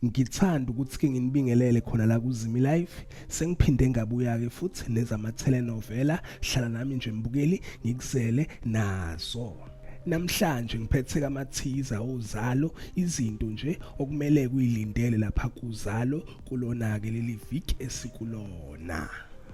Ngithanda ukuthi ke nginibingelele khona la kuZimi Live sengiphinde ngabuya ke futhi nezama telenovela hlala nami nje mbukeli ngikuzele nazo namhlanje ngiphethe kamathiza ozalo izinto nje okumele kuyilindele lapha kuzalo kulona ke leli week esikulona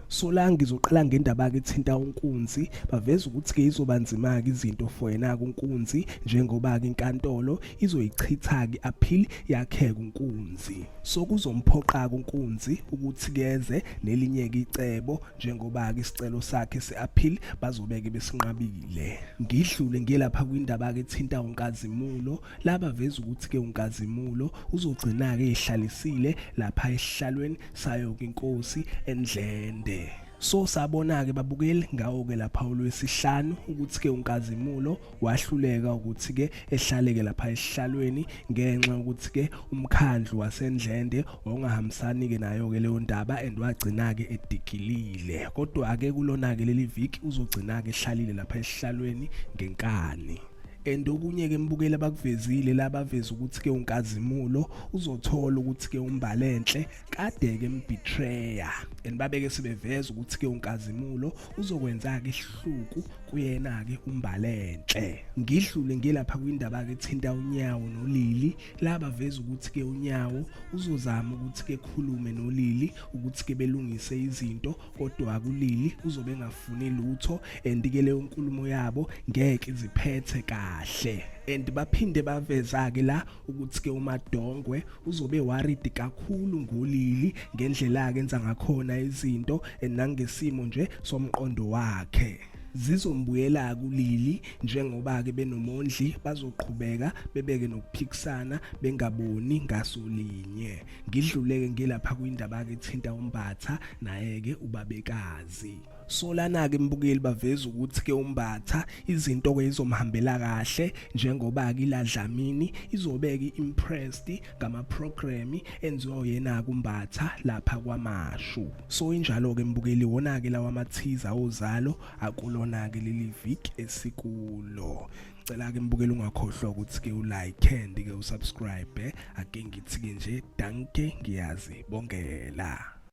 sola ngizoqala ngendaba ke thinta unkunzi baveza ukuthi ke izobanzima ke izinto for yena kunkunzi njengoba ke inkantolo izoyichithaki aphili yakheka unkunzi so kuzomphoqaka unkunzi ukuthi keze nelinye icebo njengoba ke isicelo sakhe seappeal bazobeke besinqabile ngidlule ngelapha kwindaba ke thinta unkazimulo laba veza ukuthi ke unkazimulo uzogcina ke ehlalisile lapha esihlalweni sayo inkosi endlende so sabona ke babukeli ngawo ke lapha ulwesihlanu ukuthi ke unkazimulo wahluleka ukuthi ke ehlaleke lapha esihlalweni ngenxa ukuthi ke umkhandlu wasendlende ongahambisani ke nayo ke leyo ndaba and wagcina ke edikilile kodwa ke kulona ke leli viki uzogcina ke ehlalile lapha esihlalweni ngenkani and okunye ke mbukeli abakuvezile labaveza ukuthi ke unkazimulo uzothola ukuthi ke umbalenhle kade ke mbitreya and babeke sebeveza ukuthi ke unkazimulo uzokwenza ke ihluku kuyena ke umbalenhle ngidlule ngilapha kwindaba ke thinta unyawo nolili laba veza ukuthi ke unyawo uzozama ukuthi ke khulume nolili ukuthi ke belungise izinto kodwa akulili uzobe engafuni lutho and ke leyo nkulumo yabo ngeke iziphethe kahle and baphinde baveza ke la ukuthi ke umadongwe uzobe worried kakhulu ngolili ngendlela akenza ngakhona izinto and nangesimo nje somqondo wakhe zizombuyela kulili njengoba ke benomondli bazoqhubeka bebeke nokuphikisana bengaboni ngaso linye ngidluleke ngilapha kwindaba ke thinta umbatha naye ke ubabekazi solana ke mbukeli baveza ukuthi ke umbatha izinto ke izomhambela kahle njengoba ke iladlamini izobeke impressed ngama program enziwa uyena kumbatha lapha kwamashu so injalo ke mbukeli wona ke lawa mathiza ozalo akulona ke leli week esikulo cela ke mbukela ungakhohlwa ukuthi ke ulike and ke usubscribe ake ngithi ke nje danke ngiyazi bongela